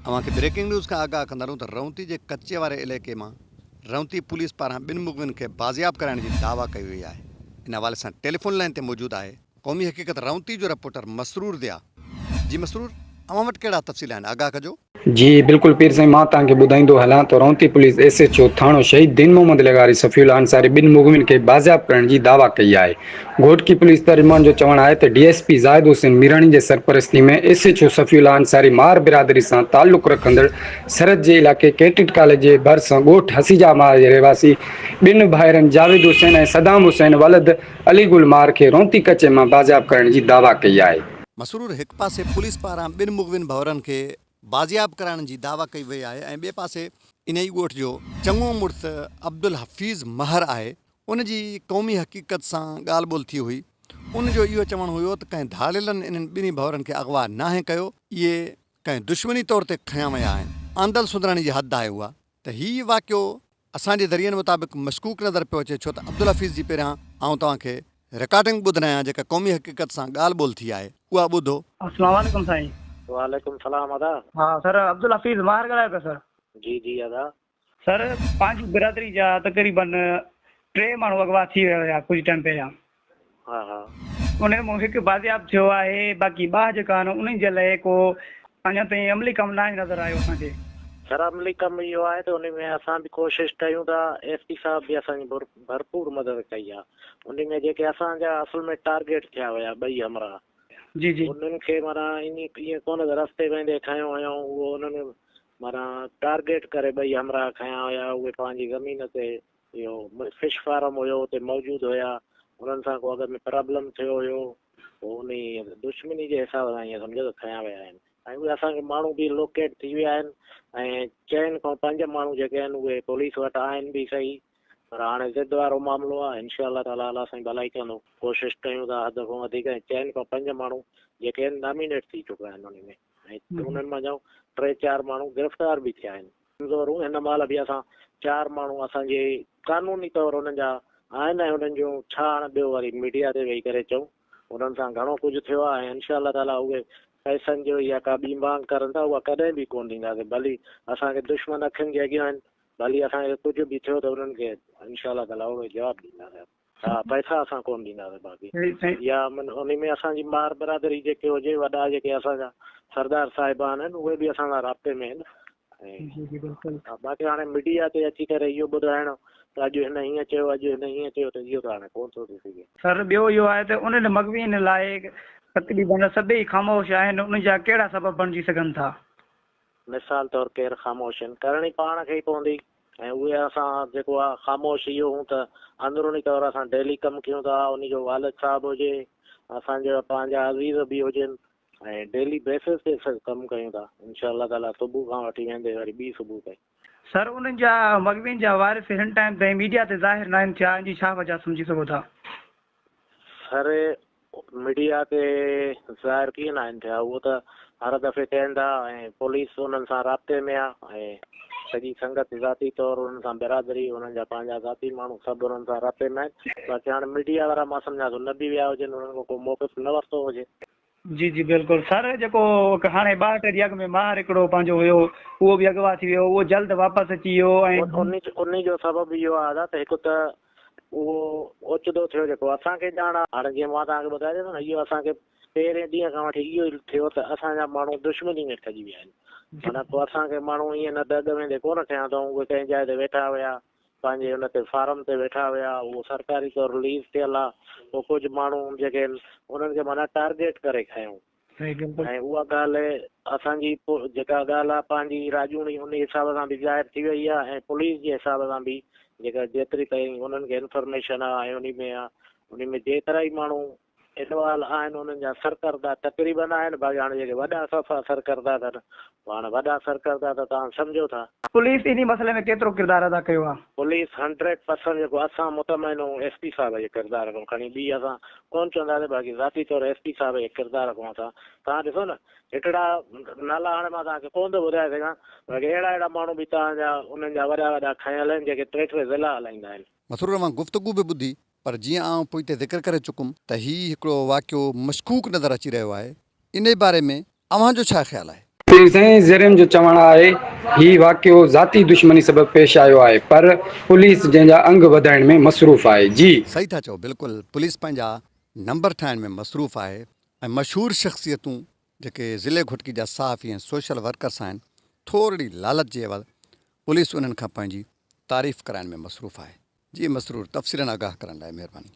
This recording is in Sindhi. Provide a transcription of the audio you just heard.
اوهان کي بريڪنگ نيوز کان آگاهه ڪندارون ته رئونتي جي ڪچي واري عليقي مان رئونتي پوليس پاران ٻن مغوين کي بازياب ڪرائڻ جي دعويٰ ڪئي وئي آهي ان حوالي سان ٽيليفون لائين تي موجود آهي قومي حقيقت رئونتي جو رپورٽر مسرور ضياء جي مسرور اوهان وٽ ڪهڙا تفصيل آهن آگاهه ڪجو. جي بلڪل پير سائين مان توهان کي ٻڌائيندو هلان ته رئونتي پوليس ايس ايڇ او ٿاڻو شهيد دين محمد لغاري صفي الله انصاري ٻن مغوين کي بازياب ڪرڻ جي دعويٰ ڪئي آهي گهوٽڪي پوليس ترجمان جو چوڻ آهي ته D S P Zahid Hussain Mirani جي سرپرستي ۾ S H O Safiullah Ansari مار برادري سان تعلق رکندڙ سرحد جي علائقي ڪيڊٽ ڪاليج جي ڀرسان ڳوٺ حسيجا مار جي رهواسي ٻن ڀائرن جاويد حسين ۽ صدام حسين ولد علي گل مار کي رونتي ڪچي مان بازياب ڪرڻ جي دعويٰ ڪئي آهي. مسرور هڪ پاسي پوليس پاران ٻن مغوين ڀورن کي بازياب ڪرائڻ جي دعويٰ ڪئي وئي آهي ۽ ٻئي پاسي انهي ئي ڳوٺ جو چڱو مڙس عبدالحفيظ مهر آهي ان جي قومي حقيقت سان ڳالهه ٻولهه ٿي هئي. ان جو اهو چوڻ هيو ته ڪنهن ڌاڙيلن انهن ٻنهي ڀؤرن کي اغوا ناهي ڪيو. اهي ڪنهن دشمني طور تي کنيا ويا آهن. آندل سندراڻي جي حد آهي اها ته هي واقعو اسان جي ذريعن مطابق مشڪوڪ نظر پيو اچي ڇو ته عبدالحفيظ جي پهريان آئون توهان کي رڪارڊنگ ٻڌرايان جيڪا قومي حقيقت سان ڳالهه ٻولهه ٿي آهي اها ٻڌو. اسلام عليڪم سائين. وعليڪم سلام ادا. ها سر عبدالحفيظ ماهر ڳالهايو پيا سر. جي جي ادا. سر پنهنجي برادري جا تقريبن ٽي ماڻهو اغوا ٿي ويا هيا ڪجهه ٽائيم پهريان ها ها انهن مان هڪ بازياب ٿيو آهي باقي ٻه جيڪا آهن انهن جي لاء ڪو اڃا تائين عملي ڪم ناهي نظر آيو اسان کي سر عملي ڪم اهو آهي ته ان ۾ اسان به ڪوشش ڪيون ٿا ايس پي صاحب به اسان جي ڀرپور مدد ڪئي آهي ان ۾ جيڪي اسان جا اصل ۾ ٽارگيٽ ٿيا هيا ٻئي همراهه جي جي انهن کي معنيٰ ائين ڪونه ته رستي ويندي کنيو هيائون اهو انهن معنيٰ ٽارگيٽ ڪري ٻئي همراهه کنيا هيا، اهي پنهنجي زمين تي اهو فش فارم هيو اتي موجود هيا، انهن سان ڪو اڳ ۾ پرابلم ٿيو هيو، پوء انهي دشمني جي حساب سان ائين سمجهه ته کنيا ويا آهن ۽ اهي اسان کي ماڻهو به لوڪيٽ ٿي ويا آهن ۽ چئن کان پنج ماڻهو جيڪي آهن اهي پوليس وٽ آهن به صحيح پر هاڻي ضد وارو معاملو آهي انشاء الله تعالٰي الله سائين ڀلائي ڪندو ڪوشش ڪيون ٿا حد کان وڌيڪ ۽ چئن کان پنج ماڻهو جيڪي آهن نامينيٽ ٿي چڪا آهن انهي ۾ ۽ انهن منجهان ٽي چار ماڻهو گرفتار به ٿيا آهن. ڪمزورون هن مهل به اسان چار ماڻهو اسان جي قانوني طور انهن جا آهن ۽ انهن جون ڇا هاڻ ٻيو وري ميڊيا تي ويهي ڪري چئون انهن سان گهڻو ڪجهه ٿيو آهي ۽ انشاء الله تعاليٰ اهي پئسن جو يا ڪا ٻي مانگ ڪرن ٿا اها ڪڏهن به ڪونه ڏينداسين ڀلي اسان کي دشمن اکين جي اڳيان آهن ڀلي اسان کي ڪجهه به ٿيو ته انهن کي انشاء الله تعاليٰ اهڙو جواب ڏينداسين. ها پئسا اسان ڪون ڏينداسين باقي يا انهي ۾ اسان جي مار برادري جيڪي هجي وڏا جيڪي اسان جا سردار صاحبان آهن اهي به اسان سان رابطي ۾ آهن ۽ باقي هاڻي ميڊيا تي اچي ڪري اهو ٻڌائڻ ته اڄ هن هيئن چيو اڄ هن هيئن چيو ته اهو ته هاڻي ڪون ٿو ٿي سگهي. سر ٻيو اهو آهي ته انهن مغوين لاء تقريباً سڀئي خاموش آهن انهن جا ڪهڙا سبب بڻجي سگهن ٿا؟ مثال طور ڪير خاموش آهن ڪرڻي پاڻ کي ئي پوندي ۽ اهي اسان جيڪو آ خاموش اهو هون ته اندروني طور اسان ڊيلي ڪم ڪيون ٿا انهي جو والد صاحب هجي اسان جا پنهنجا عزيز به هجن ۽ ڊيلي بيسز تي سڀ ڪم ڪيون ٿا انشاء الله تعالي صبح کان وٺي ويندي وري ٻي صبح تائين. سر انهن جا مغوين جا وارث هن ٽائيم تائين ميڊيا تي ظاهر ناهن ٿيا ان جي ڇا وجه سمجهي سگهو ٿا. سر ميڊيا تي ظاهر ڪيئن ناهن ٿيا اهو ته هر دفعي ڪين ٿا ۽ پوليس انهن سان رابطي ۾ آهي ۽ سڄي سنگت ذاتي طور انهن سان برادري انهن جا پنهنجا ذاتي ماڻهو سڀ انهن سان رابطي ۾ آهن باقي هاڻي ميڊيا وارا مان سمجهان ٿو نه به ويا هجن انهن کان ڪو موقف نه ورتو هجي جي جي بلڪل سر جيڪو هاڻي ٻاهٽ جي اڳ ۾ ماهر هڪڙو پنهنجو هيو اهو به اغوا ٿي ويو اهو جلد واپس اچي ويو ۽ انهي جو سبب اهو آهي دادا ته هڪ ته اهو اوچتو ٿيو جيڪو اسان کي ڄاڻ آهي هاڻي جيئن مان توهان کي ٻڌائي ڏنو نه اهو اسان کي پهرين ڏينهن کان وٺي اهو ئي ٿيو ته اسان جا ماڻهو دشمني ۾ پئجي ويا آهن معنيٰ ڪو اسان کي ماڻهو ائين نه ته اڳ ويندي ڪونه کنيا اٿئون اهي ڪنهن جاء تي ويٺا هيا پنهنجي ان تي فارم تي ويٺا هيا اهو سرڪاري طور رليز ٿيل آ پو ڪجهه ماڻهو جيڪي آهن انهن کي معنيٰ ٽارگيٽ ڪري کنيو سائين بلڪل. ۽ اها ڳالهه اسان جي جيڪا ڳالهه آ پنهنجي راڄوڻي ان حساب سان به ظاهر ٿي وئي آ ۽ پوليس جي حساب سان به جيڪا جيتري تائين انهن کي انفرميشن آ ۽ انهي ۾ آ انهي ۾ جيترا ئي ماڻهو انوال آهن انهن جا سرڪردا تقريبن آهن باقي هاڻ جيڪي وڏا صفا سرڪردا اٿن اهي هاڻ وڏا سرڪردا ته توهان سمجهو ٿا. پوليس انهي مسئلي ۾ ڪيترو ڪردار ادا ڪيو آهي؟ پوليس هنڊريڊ پرسنٽ جيڪو اسان مطمئن آهيون ايس پي صاحب جي ڪردار کان کڻي ٻي اسان ڪون چونداسين باقي ذاتي طور ايس پي صاحب جي ڪردار کان اسان توهان ڏسو نه هڪڙا نالا هاڻ مان توهان کي ڪون ٿو ٻڌائي سگهان باقي اهڙا اهڙا ماڻهو به توهان جا انهن جا وڏا وڏا کنيل آهن جيڪي ٽي ٽي ضلعا هلائيندا آهن. مسرور اوهان گفتگو به ٻڌي پر جيئن آئون پوئتي ذڪر ڪري چڪم ته هي هڪڙو واقعو مشڪوڪ نظر اچي رهيو آهي، انهي باري ۾ اوهان جو ڇا خيال آهي؟ پير سائين زرين جو چوڻ آهي هي واقعو ذاتي دشمني سبب پيش آيو آهي پر پوليس جنهن جا انگ وڌائڻ ۾ مصروف آهي جي. صحيح ٿا چئو بلڪل پوليس پنهنجا نمبر ٺاهڻ ۾ مصروف آهي ۽ مشهور شخصيتون جيڪي ضلعي گهوٽڪي جا صحافي ۽ سوشل ورڪرس آهن، ٿورڙي لالچ جي عيوض پوليس انهن کان پنهنجي تعريف ڪرائڻ ۾ مصروف آهي. جي مسرور تفصيلن آگاهه ڪرڻ لاء مهرباني.